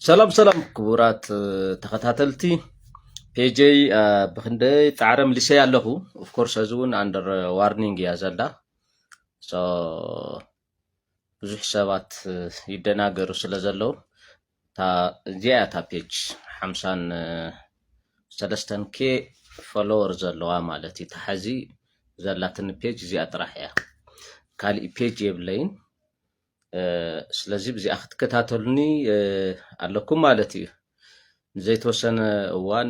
ሰላም ሰላም ክቡራት ተኸታተልቲ ፔጀይ ብክንደይ ፃዕረ ምልሰይ ኣለኹ ኦፍኮርስ እዚ እውን ኣንደር ዋርኒንግ እያ ዘላ ብዙሕ ሰባት ይደናገሩ ስለ ዘለዉ እዚኣ እያ እታ ፔጅ ሓምሳን ሰለስተን ኬ ፎሎወር ዘለዋ ማለት እዩ ተሓዚ ዘላትኒ ፔጅ እዚኣ ጥራሕ እያ ካሊእ ፔጅ የብለይን ስለዚ ብዚኣ ክትከታተሉኒ ኣለኩም ማለት እዩ ንዘይተወሰነ እዋን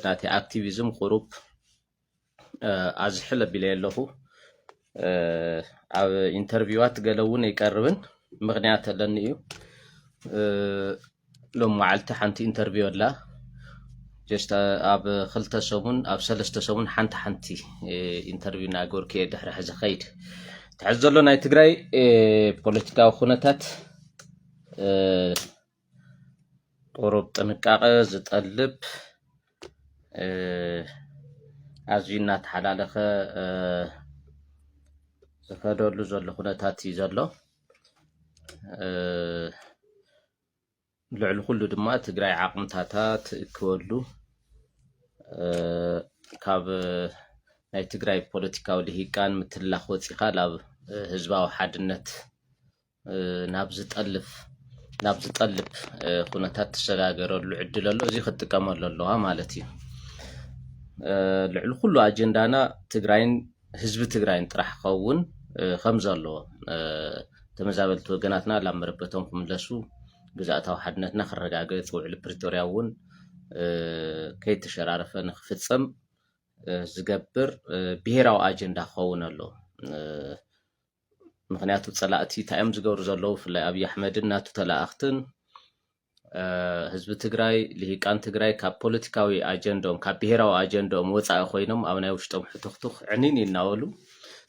ናተይ ኣክቲቪዝም ቁሩብ ኣዝሕል ኣቢለዮ ኣለኹ ኣብ ኢንተርቪዋት ገለ እውን ኣይቀርብን ምክንያት ኣለኒ እዩ ሎም መዓልቲ ሓንቲ ኢንተርቪው ኣላ ጀስት ኣብ ክልተ ሰሙን ኣብ ሰለስተ ሰሙን ሓንቲ ሓንቲ ኢንተርቪው ናገርኩ እየ ድሕሪ ሕዚ ከይድ ትሕዚ ዘሎ ናይ ትግራይ ፖለቲካዊ ኩነታት ቁሩብ ጥንቃቐ ዝጠልብ ኣዝዩ እናተሓላለኸ ዝኸደሉ ዘሎ ኩነታት እዩ ዘሎ። ልዕሊ ኩሉ ድማ ትግራይ ዓቕምታታ ትእክበሉ ካብ ናይ ትግራይ ፖለቲካዊ ልሂቃን ምትላኽ ወፂእኻ ናብ ህዝባዊ ሓድነት ናብ ዝጠልፍ ናብ ዝጠልፍ ኩነታት ትሰጋገረሉ ዕድል ኣሎ እዚ ክትጥቀመሉ ኣለዋ ማለት እዩ ልዕሊ ኩሉ ኣጀንዳና ትግራይን ህዝቢ ትግራይን ጥራሕ ክኸውን ከም ዘለዎ ተመዛበልቲ ወገናትና ላብ መረበቶም ክምለሱ ግዛእታዊ ሓድነትና ክረጋገፅ ውዕሊ ፕሪቶርያ እውን ከይተሸራረፈ ንክፍፀም ዝገብር ብሄራዊ ኣጀንዳ ክኸውን ኣሎ ምክንያቱ ፀላእቲ እንታይ እዮም ዝገብሩ ዘለዉ ብፍላይ ኣብዪ ኣሕመድን ናቱ ተለኣኣኽትን ህዝቢ ትግራይ ልሂቃን ትግራይ ካብ ፖለቲካዊ ኣጀንድኦም ካብ ብሄራዊ ኣጀንድኦም ወፃኢ ኮይኖም ኣብ ናይ ውሽጦም ሕትኽቱኽ ዕኒን ይናበሉ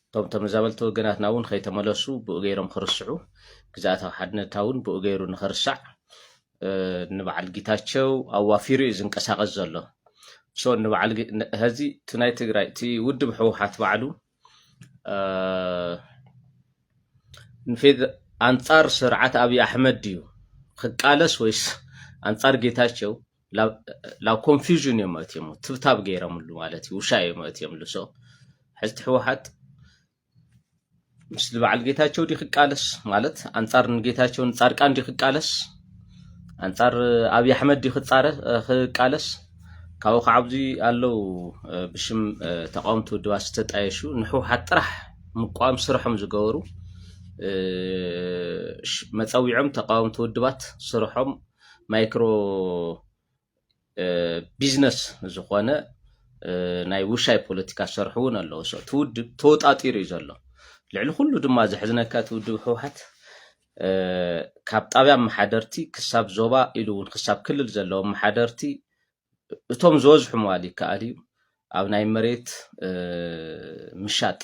እቶም ተመዛበልቲ ወገናትና እውን ከይተመለሱ ብኡ ገይሮም ክርስዑ ግዛኣታዊ ሓድነታ እውን ብኡ ገይሩ ንክርሳዕ ንበዓል ጌታቸው ኣዋፊሩ እዩ ዝንቀሳቀስ ዘሎ ሶ ንበዓል ሀዚ እቲ ናይ ትግራይ እቲ ውድብ ህወሓት ባዕሉ ንፌት ኣንጻር ስርዓት ኣብዪ ኣሕመድ ድዩ ክቃለስ ወይስ ኣንጻር ጌታቸው ላብ ኮንፊዥን እዮም መእትዮም ትብታብ ገይረምሉ ማለት እዩ ውሻ እዮም መእትዮምሉ ሶ ሕዝቲ ህወሓት ምስቲ በዓል ጌታቸው ዲ ክቃለስ ማለት ኣንጻር ንጌታቸው ንጻድቃን ዲ ክቃለስ ኣንጻር ኣብይ ኣሕመድ ድዩ ክቃለስ ካብኡ ከዓ ኣብዚ ኣለው ብሽም ተቃወምቲ ውድባት ዝተጣየሹ ንሕወሓት ጥራሕ ምቋም ስርሖም ዝገበሩ መፀዊዖም ተቃወምቲ ውድባት ስርሖም ማይክሮ ቢዝነስ ዝኾነ ናይ ውሻይ ፖለቲካ ዝሰርሑ እውን ኣለዉ ሰ እቲ ውድብ ተወጣጢሩ እዩ ዘሎ ልዕሊ ኩሉ ድማ ዘሕዝነካ እቲ ውድብ ህውሓት ካብ ጣብያ መሓደርቲ ክሳብ ዞባ ኢሉ እውን ክሳብ ክልል ዘለዉ መሓደርቲ እቶም ዝበዝሑ ምባል ይከኣል እዩ ኣብ ናይ መሬት ምሻጥ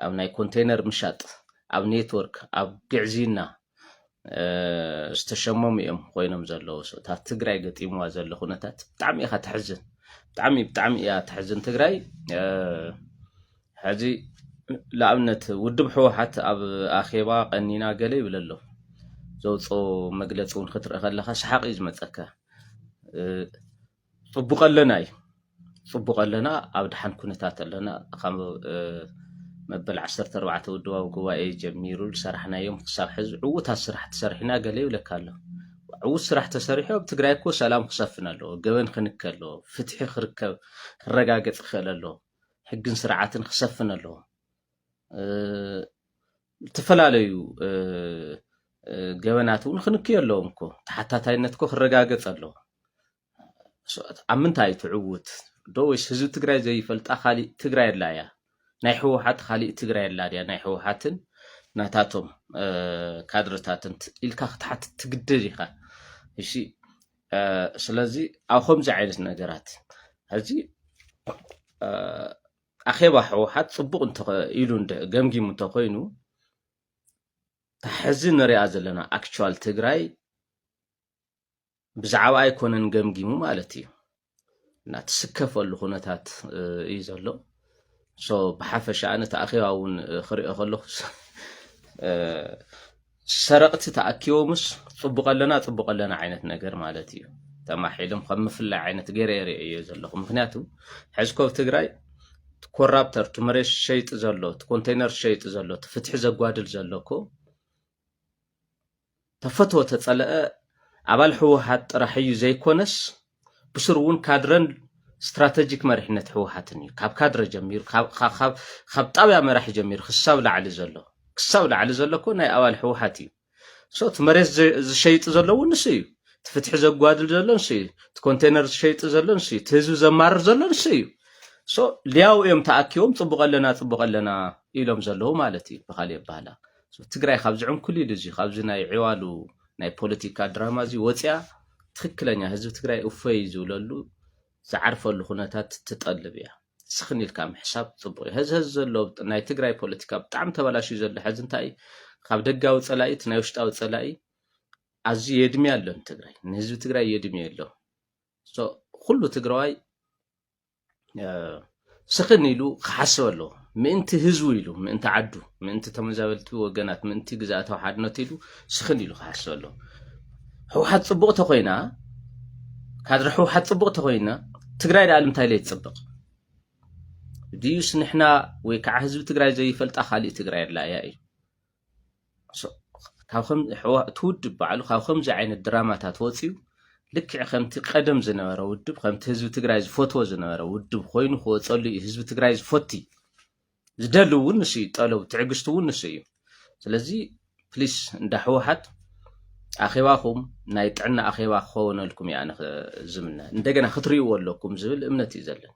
ኣብ ናይ ኮንቴነር ምሻጥ ኣብ ኔትወርክ ኣብ ግዕዝይና ዝተሸመሙ እዮም ኮይኖም ዘለዉ እታ ትግራይ ገጢምዋ ዘሎ ኩነታት ብጣዕሚ ኢኻ ተሕዝን ብጣዕሚ ብጣዕሚ እያ ተሕዝን ትግራይ ሕዚ ንኣብነት ውድብ ሕወሓት ኣብ ኣኼባ ቀኒና ገለ ይብል ኣሎ ዘውፅኦ መግለፂ እውን ክትርኢ ከለካ ሰሓቅ እዩ ዝመፀካ ጽቡቅ ኣለና እዩ ጽቡቅ ኣለና ኣብ ደሓን ኩነታት ኣለና ካብ መበል ዓሰርተ ኣርባዕተ ውድባዊ ጉባኤ ጀሚሩ ዝሰራሕናዮም ክሳብ ሕዚ ዕዉታት ስራሕቲ ሰሪሕና ገለ ይብለካ ኣሎ ዕዉት ስራሕ ተሰሪሑ ኣብ ትግራይ እኮ ሰላም ክሰፍን ኣለዎ ገበን ክንከ ኣለዎ ፍትሒ ክርከብ ክረጋገፅ ክኽእል ኣለዎ ሕግን ስርዓትን ክሰፍን ኣለዎ ዝተፈላለዩ ገበናት እውን ክንክዮ ኣለዎም እኮ ተሓታታይነት እኮ ክረጋገፅ ኣለዎ። ኣብ ምንታይ ትዕውት ዶ ወይስ ህዝቢ ትግራይ ዘይፈልጣ ካሊእ ትግራይ ኣላ እያ? ናይ ህወሓት ካሊእ ትግራይ ኣላ ድያ? ናይ ህወሓትን ናታቶም ካድረታትን ኢልካ ክትሓትት ትግደድ ኢኻ። እሺ ስለዚ ኣብ ከምዚ ዓይነት ነገራት ሕዚ ኣኼባ ሕወሓት ጽቡቕ እንተ ኢሉ እንደ ገምጊሙ እንተ ኮይኑ እታ ሕዚ ንሪኣ ዘለና ኣክቹዋል ትግራይ ብዛዕባ ኣይኮነን ገምጊሙ ማለት እዩ እና ትስከፈሉ ኩነታት እዩ ዘሎ ሶ ብሓፈሻ ኣነ እቲ ኣኼባ እውን ክሪኦ ከለኹ ሰረቕቲ ተኣኪቦምስ ጽቡቕ ኣለና ጽቡቕ ኣለና ዓይነት ነገር ማለት እዩ ተማሒልም ከም ምፍላይ ዓይነት ገይረ የርእዮ ዘለኹ ምክንያቱ ሕዝኮ ትግራይ ኮራፕተር እቲ መሬት ሸይጢ ዘሎ እቲ ኮንቴይነር ሸይጢ ዘሎ እቲ ፍትሒ ዘጓድል ዘሎ እኮ ተፈትወ ተጸለአ ኣባል ህወሓት ጥራሕ እዩ ዘይኮነስ ብስሩ እውን ካድረን ስትራተጂክ መሪሕነት ህወሓትን እዩ ካብ ካድረ ጀሚሩ ካብ ጣብያ መራሒ ጀሚሩ ክሳብ ላዕሊ ዘሎ ክሳብ ላዕሊ ዘሎ እኮ ናይ ኣባል ህወሓት እዩ ሶት መሬት ዝሸይጥ ዘሎ እውን ንሱ እዩ እቲ ፍትሒ ዘጓድል ዘሎ ንሱ እዩ እቲ ኮንቴነር ዝሸይጥ ዘሎ ንሱ እዩ እቲ ህዝቢ ዘማርር ዘሎ ንሱ እዩ ሶ ሊያው እዮም ተኣኪቦም ፅቡቅ ኣለና ፅቡቅ ኣለና ኢሎም ዘለዉ ማለት እዩ ብካሊእ ኣባህላ ትግራይ ካብ ዝዕንኩሊሉ እዚ ካብዚ ናይ ዕዋሉ ናይ ፖለቲካ ድራማ እዚ ወፂኣ ትክክለኛ ህዝቢ ትግራይ እፎይ ዝብለሉ ዝዓርፈሉ ኩነታት ትጠልብ እያ። ስኽን ኢልካ ምሕሳብ ፅቡቅ እዩ ሀዝሀዝ ዘሎ ናይ ትግራይ ፖለቲካ ብጣዕሚ ተበላሽዩ ዘሎ ሐዚ እንታይ እዩ ካብ ደጋዊ ፀላኢ እቲ ናይ ውሽጣዊ ፀላኢ ኣዝዩ የድምያ ኣሎ ንትግራይ ንህዝቢ ትግራይ የድምዮ ኣሎ ኩሉ ትግራዋይ ስኽን ኢሉ ክሓስብ ኣለዎ ምእንቲ ህዝቡ ኢሉ ምእንቲ ዓዱ ምእንቲ ተመዛበልቲ ወገናት ምእንቲ ግዛእታዊ ሓድነት ኢሉ ስኽን ኢሉ ክሓስብ ኣለዎ ህወሓት ፅቡቕ ተኮይና ካድረ ህወሓት ፅቡቕ ተኮይና ትግራይ ዳኣሉ እንታይ ለይ ትፅብቕ ድዩስ ንሕና ወይ ከዓ ህዝቢ ትግራይ ዘይፈልጣ ካሊእ ትግራይ ኣላ እያ እዩ እቲ ውድብ ባዕሉ ካብ ከምዚ ዓይነት ድራማታት ወፅዩ ልክዕ ከምቲ ቀደም ዝነበረ ውድብ ከምቲ ህዝቢ ትግራይ ዝፈትዎ ዝነበረ ውድብ ኮይኑ ክወፀሉ እዩ ህዝቢ ትግራይ ዝፈቲ ዝደሊ እውን ንሱ እዩ ጠለቡ ትዕግስቲ እውን ንሱ እዩ ስለዚ ፕሊስ እንዳ ህወሓት ኣኼባኹም ናይ ጥዕና ኣኼባ ክኸውነልኩም እያ ዝምነ እንደገና ክትርእይዎ ኣለኩም ዝብል እምነት እዩ ዘለን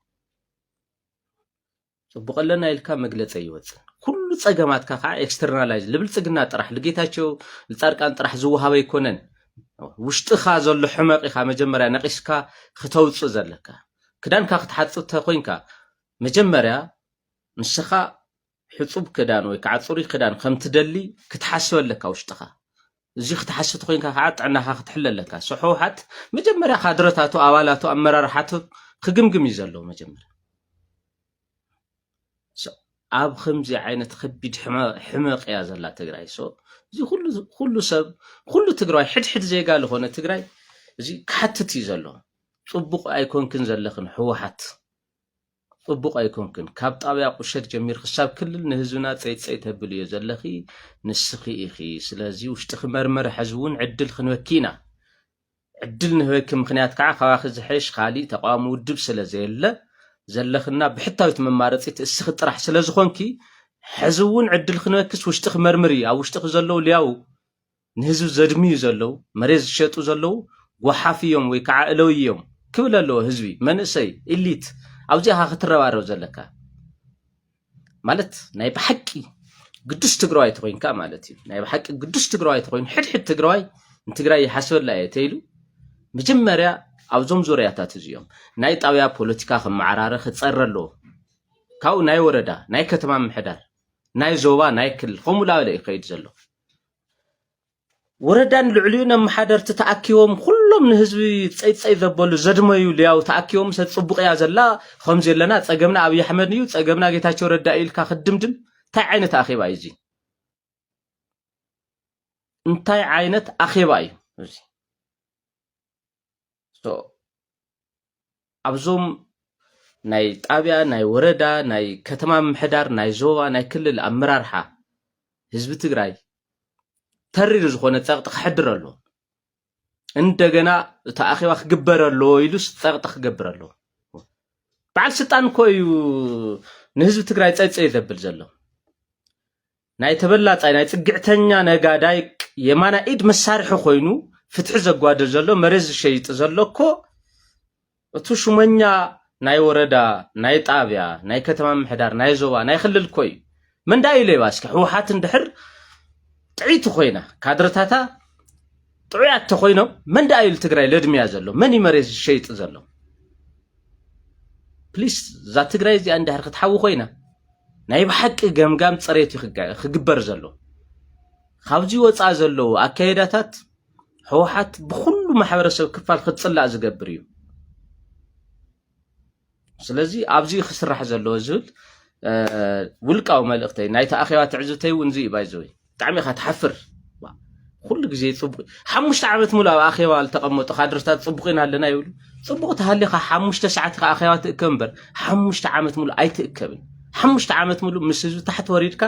ጽቡቅ ኣለና ኢልካ መግለጺ ኣይወጽን ኩሉ ጸገማትካ ከዓ ኤክስተርናላይዝ ልብልጽግና ጥራሕ ልጌታቸው ልጻድቃን ጥራሕ ዝወሃበ ኣይኮነን ውሽጥኻ ዘሎ ሕመቕ ኢኻ መጀመርያ ነቒስካ ክተውፅእ ዘለካ ክዳንካ ክትሓፅብ ተኮይንካ መጀመርያ ንስኻ ሕፁብ ክዳን ወይ ከዓ ፅሩይ ክዳን ከምትደሊ ክትሓስበለካ ውሽጥኻ እዚ ክትሓስብ ተኮይንካ ከኣ ጥዕናካ ክትሕለ ኣለካ ሶ ሕውሓት መጀመርያ ካድረታቱ ኣባላቱ ኣመራርሓቱ ክግምግም እዩ ዘለዎ መጀመርያ ኣብ ከምዚ ዓይነት ከቢድ ሕመቅ እያ ዘላ ትግራይ ሶ እዚ ኩሉ ሰብ ኩሉ ትግራዋይ ሕድሕድ ዜጋ ዝኾነ ትግራይ እዚ ክሓትት እዩ ዘሎ። ጽቡቕ ኣይኮንክን ዘለኽን ህወሓት ጽቡቅ ኣይኮንክን ካብ ጣብያ ቁሸት ጀሚርኪ ክሳብ ክልል ንህዝብና ጸይጸይ ተብልዮ ዘለኺ ንስኺ ኢኺ ስለዚ ውሽጥኺ መርምሪ ሕዚ ውን ዕድል ክንበኪ ኢና ዕድል ንህበኪ ምኽንያት ከዓ ካባኺ ዝሐይሽ ኻሊእ ተቃዋሚ ውድብ ስለዘየለ ዘለኽና ብሕታዊት መማረፂት እስኺ ጥራሕ ስለዝኾንኪ ሕዚ ውን ዕድል ክንበክስ ውሽጥኺ መርምሪ ኣብ ውሽጥኺ ዘለዉ ልያው ንህዝቢ ዘድምዩ ዘለው መሬት ዝሸጡ ዘለው ጎሓፍ እዮም ወይ ከዓ እለውይ እዮም ክብል ኣለዎ ህዝቢ መንእሰይ ኢሊት ኣብዚኣኻ ክትረባረብ ዘለካ ማለት ናይ ብሓቂ ግዱስ ትግራዋይ ተኮይንካ ማለት እዩ ናይ ብሓቂ ግዱስ ትግራዋይ ተኮይኑ ሕድሕድ ትግራዋይ ንትግራይ ይሓስበላ እየ ተይሉ መጀመርያ ኣብዞም ዙርያታት እዚኦም ናይ ጣብያ ፖለቲካ ክመዓራረ ክፀረ ኣለዎ ካብኡ ናይ ወረዳ ናይ ከተማ ምሕዳር ናይ ዞባ ናይ ክልል ከምኡ ላበለ እዩ ከይድ ዘሎ ወረዳን ልዕሊኡ ነመሓደርቲ ተኣኪቦም ኩሎም ንህዝቢ ፀይፀይ ዘበሉ ዘድመዩ ልያው ተኣኪቦም ሰ ፅቡቅ እያ ዘላ ከምዚ ኣለና ፀገምና ኣብይ ኣሕመድ እዩ ፀገምና ጌታቸው ረዳ ኢልካ ክድምድም እንታይ ዓይነት ኣኼባ እዩ እዚ እንታይ ዓይነት ኣኼባ እዩ እዚ ኣብዞም ናይ ጣብያ ናይ ወረዳ ናይ ከተማ ምሕዳር ናይ ዞባ ናይ ክልል ኣመራርሓ ህዝቢ ትግራይ ተሪር ዝኾነ ፀቕጢ ክሕድር ኣሎ እንደገና እቲ ኣኼባ ክግበር ኣሎ ኢሉስ ፀቕጢ ክገብር ኣሎ በዓል ስልጣን እኮ እዩ ንህዝቢ ትግራይ ፀይፀይ ዘብል ዘሎ ናይ ተበላጻይ ናይ ጽግዕተኛ ነጋዳይ የማናይ ኢድ መሳርሒ ኮይኑ ፍትሒ ዘጓድል ዘሎ መሬት ዝሸይጥ ዘሎ እኮ እቱ ሹመኛ ናይ ወረዳ ናይ ጣብያ ናይ ከተማ ምሕዳር ናይ ዞባ ናይ ክልል እኮ እዩ መንዳ እዩ ሌባ እስኪ ህወሓት እንድሕር ጥዒቲ ኮይና ካድረታታ ጥዑያት ተኾይኖም መን ደኣ እዩ ትግራይ ለድምያ ዘሎ መን እዩ መሬት ዝሸይጥ ዘሎ ፕሊስ እዛ ትግራይ እዚኣ እንድሕር ክትሓዊ ኮይና ናይ ብሓቂ ገምጋም ፅሬት እዩ ክግበር ዘሎ ካብዚ ወፃእ ዘለዉ ኣካየዳታት ህወሓት ብኩሉ ማሕበረሰብ ክፋል ክትፅላእ ዝገብር እዩ ስለዚ ኣብዚ እዩ ክስራሕ ዘለዎ ዝብል ውልቃዊ መልእኽተይ ናይቲ ኣኼባ ትዕዝብተይ እውን እዚ እዩ ባይዘወይ ብጣዕሚ ኢኻ ትሓፍር ኩሉ ግዜ ፅቡቅ ሓሙሽተ ዓመት ሙሉ ኣብ ኣኼባ ዝተቐመጡ ካድርታት ፅቡቅ ኢና ኣለና ይብሉ ፅቡቅ ተሃሊኻ ሓሙሽተ ሰዓት ኢኻ ኣኼባ ትእከብ እምበር ሓሙሽተ ዓመት ሙሉ ኣይትእከብን ሓሙሽተ ዓመት ሙሉ ምስ ህዝቢ ታሕቲ ወሪድካ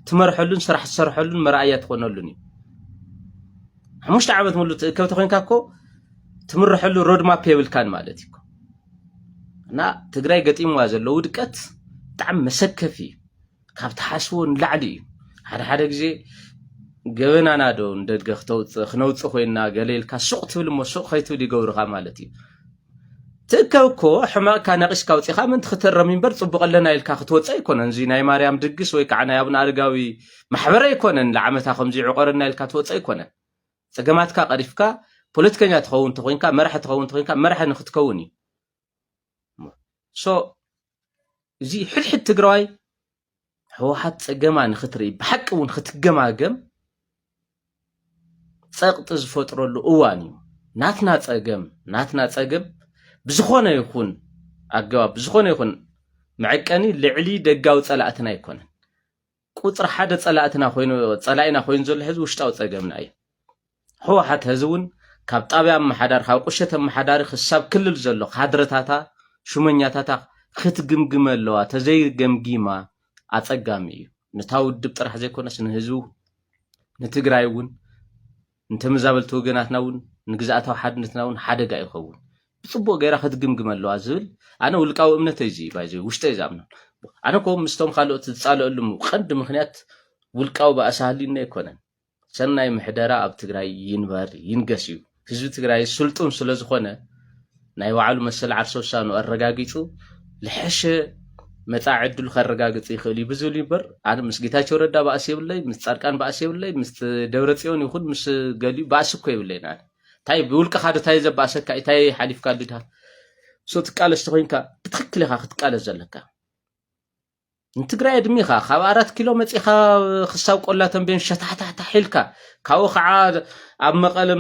ትመርሐሉን ስራሕ ትሰርሐሉን መርኣያ ትኾነሉን እዩ ሓሙሽተ ዓመት ሙሉ ትእከብ ተኮንካ እኮ ትምርሐሉ ሮድማፕ የብልካን ማለት እዩ እና ትግራይ ገጢምዋ ዘሎ ውድቀት ብጣዕሚ መሰከፊ እዩ ካብ ትሓስቦ ንላዕሊ እዩ ሓደ ሓደ ግዜ ገበናና ዶ ንደድገ ክተውፅእ ክነውፅእ ኮይና ገለ ኢልካ ሱቅ ትብል እሞ ሱቅ ከይትብል ይገብሩካ ማለት እዩ ትእከብ እኮ ሕማቅካ ነቂስካ ኣውፂኻ ምንቲ ክትረም እምበር ፅቡቅ ኣለና ኢልካ ክትወፅ ኣይኮነን እዚ ናይ ማርያም ድግስ ወይ ከዓ ናይ ኣብነ ኣረጋዊ ማሕበር ኣይኮነን ንዓመታ ከምዚ ዕቆረና ኢልካ ትወፅ ኣይኮነን ፀገማትካ ቀሪፍካ ፖለቲከኛ ትኸውን ተኮይንካ መራሒ ትኸውን ተኮይንካ መራሒ ንክትከውን እዩ ሶ እዚ ሕድሕድ ትግራዋይ ህወሓት ፀገማ ንክትርኢ ብሓቂ እውን ክትገማገም ፀቕጢ ዝፈጥረሉ እዋን እዩ ናትና ፀገም ናትና ፀገም ብዝኾነ ይኹን ኣገባብ ብዝኾነ ይኹን መዐቀኒ ልዕሊ ደጋዊ ፀላእትና ኣይኮነን ቁፅሪ ሓደ ፀላእትና ኮይኑ ፀላኢና ኮይኑ ዘሎ ሕዚ ውሽጣዊ ፀገምና እዩ ህወሓት ሀዚ እውን ካብ ጣብያ ኣመሓዳሪ ካብ ቁሸት ኣመሓዳሪ ክሳብ ክልል ዘሎ ካድረታታ ሹመኛታታ ክትግምግመ ኣለዋ ተዘይገምጊማ ኣፀጋሚ እዩ ነታ ውድብ ጥራሕ ዘይኮነስ ንህዝቢ ንትግራይ እውን ንተመዛበልቲ ወገናትና እውን ንግዝኣታዊ ሓድነትና እውን ሓደጋ ይኸውን ብፅቡቅ ገይራ ክትግምግመ ኣለዋ ዝብል ኣነ ውልቃዊ እምነት እዚ ባይዘ ውሽጠ ዛምኖ ኣነ ኮ ምስቶም ካልኦት ዝፃለእሉም ቀንዲ ምክንያት ውልቃዊ ባእሲ ሃልዩኒ ኣይኮነን ሰናይ ምሕደራ ኣብ ትግራይ ይንበር ይንገስ እዩ። ህዝቢ ትግራይ ስልጡን ስለ ዝኾነ ናይ ባዕሉ መሰል ዓርሰ ውሳኑ ኣረጋጊጹ ልሐሸ መጻኢ ዕድሉ ከረጋግጽ ይኽእል እዩ ብዝብል ይበር ኣነ ምስ ጌታቸው ረዳ ባእሲ የብለይ ምስ ጻድቃን ባእሲ የብለይ ምስ ደብረ ጽዮን ይኹን ምስ ገሊኡ ባእሲ እኮ የብለይን ኣነ እንታይ ብውልቅኻ ዶ እንታይ ዘባእሰካ እንታይ ሓሊፍካ ድድሃ ሶ ትቃለስ ተኮይንካ ብትክክል ኢኻ ክትቃለስ ዘለካ ንትግራይ ኣድሚኻ ካብ ኣራት ኪሎ መፂኻ ክሳብ ቆላ ተንቤን ሸታሕታሕታሕ ኢልካ ካብኡ ከዓ ኣብ መቐለ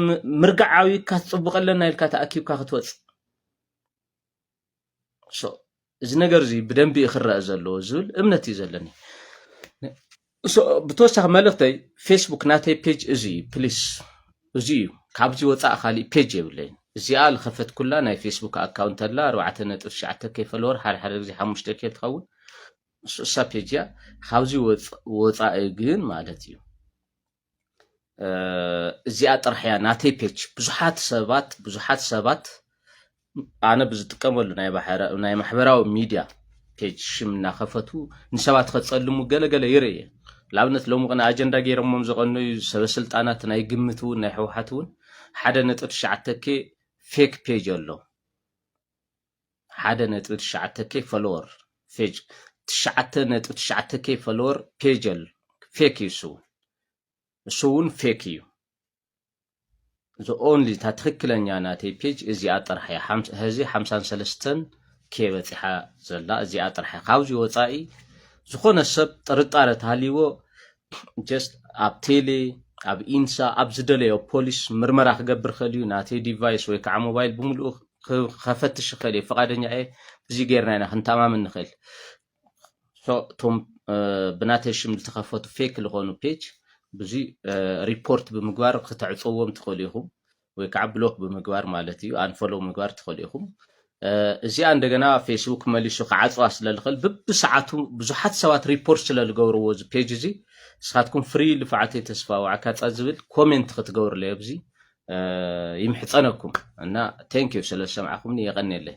ምርጋዕ ዓብይካ ትፅቡቕ ኣለና ኢልካ ተኣኪብካ ክትወፅእ እዚ ነገር እዚ ብደንቢ እዩ ክረአ ዘለዎ ዝብል እምነት እዩ ዘለኒ ብተወሳኺ መልእኽተይ ፌስቡክ ናተይ ፔጅ እዚ እዩ ፕሊስ እዚ እዩ ካብዚ ወፃእ ካሊእ ፔጅ የብለይን እዚኣ ዝኸፈትኩላ ናይ ፌስቡክ ኣካውንት ኣላ ኣርባዕተ ነጥብ ትሽዓተ ከይ ፈለወር ሓደ ሓደ ግዜ ሓሙሽተ ከይ ትኸውን ንሱ እሳ ፔጅ እያ ካብዚ ወፃኢ ግን ማለት እዩ እዚኣ ጥራሕ እያ ናተይ ፔጅ ብዙሓት ሰባት ብዙሓት ሰባት ኣነ ብዝጥቀመሉ ናይ ማሕበራዊ ሚድያ ፔጅ ሽም እናኸፈቱ ንሰባት ከፀልሙ ገለገለ ይርኢ እየ ንኣብነት ሎሚ ቅነ ኣጀንዳ ገይሮሞም ዝቐነዩ ሰበስልጣናት ናይ ግምት እውን ናይ ሕወሓት እውን ሓደ ነጥብ ትሽዓተ ኬ ፌክ ፔጅ ኣሎ ሓደ ነጥቢ ትሽዓተ ኬ ፈለወር ፌጅ ትሽዓተ ነጥቢ ትሽዓተ ኬ ፈለወር ፔጀል ፌክ እዩ እሱ እሱ እውን ፌክ እዩ እዚ ኦንሊ እታ ትክክለኛ ናተይ ፔጅ እዚኣ ጥራሕ እያ ህዚ ሓምሳን ሰለስተን ኬ በፂሓ ዘላ እዚኣ ጥራሕ እያ ካብዚ ወፃኢ ዝኾነ ሰብ ጥርጣረ ተሃልይዎ just ኣብ ቴሌ ኣብ ኢንሳ ኣብ ዝደለዮ ፖሊስ ምርመራ ክገብር ኸል እዩ ናተይ ዲቫይስ ወይ ከዓ ሞባይል ብምልኡ ከፈትሽ ይኽእል እየ ፈቃደኛ እየ እዚ ጌርና ኢና ክንተማመን ንኽእል እቶም ብናተይ ሽም ዝተኸፈቱ ፌክ ዝኾኑ ፔጅ ብዙ ሪፖርት ብምግባር ክተዕፀዎም ትኽእሉ ኢኹም ወይ ከዓ ብሎክ ብምግባር ማለት እዩ ኣንፈሎው ምግባር ትኽእሉ ኢኹም እዚኣ እንደገና ፌስቡክ መሊሱ ክዓፅዋ ስለ ዝኽእል ብብሰዓቱ ብዙሓት ሰባት ሪፖርት ስለ ዝገብርዎ እዚ ፔጅ እዚ ንስኻትኩም ፍሪ ልፍዓተይ ተስፋ ዋዕካፃ ዝብል ኮሜንት ክትገብርለ ኣብዚ ይምሕፀነኩም እና ቴንክ ዩ ስለ ዝሰምዓኹምኒ የቐኒየለይ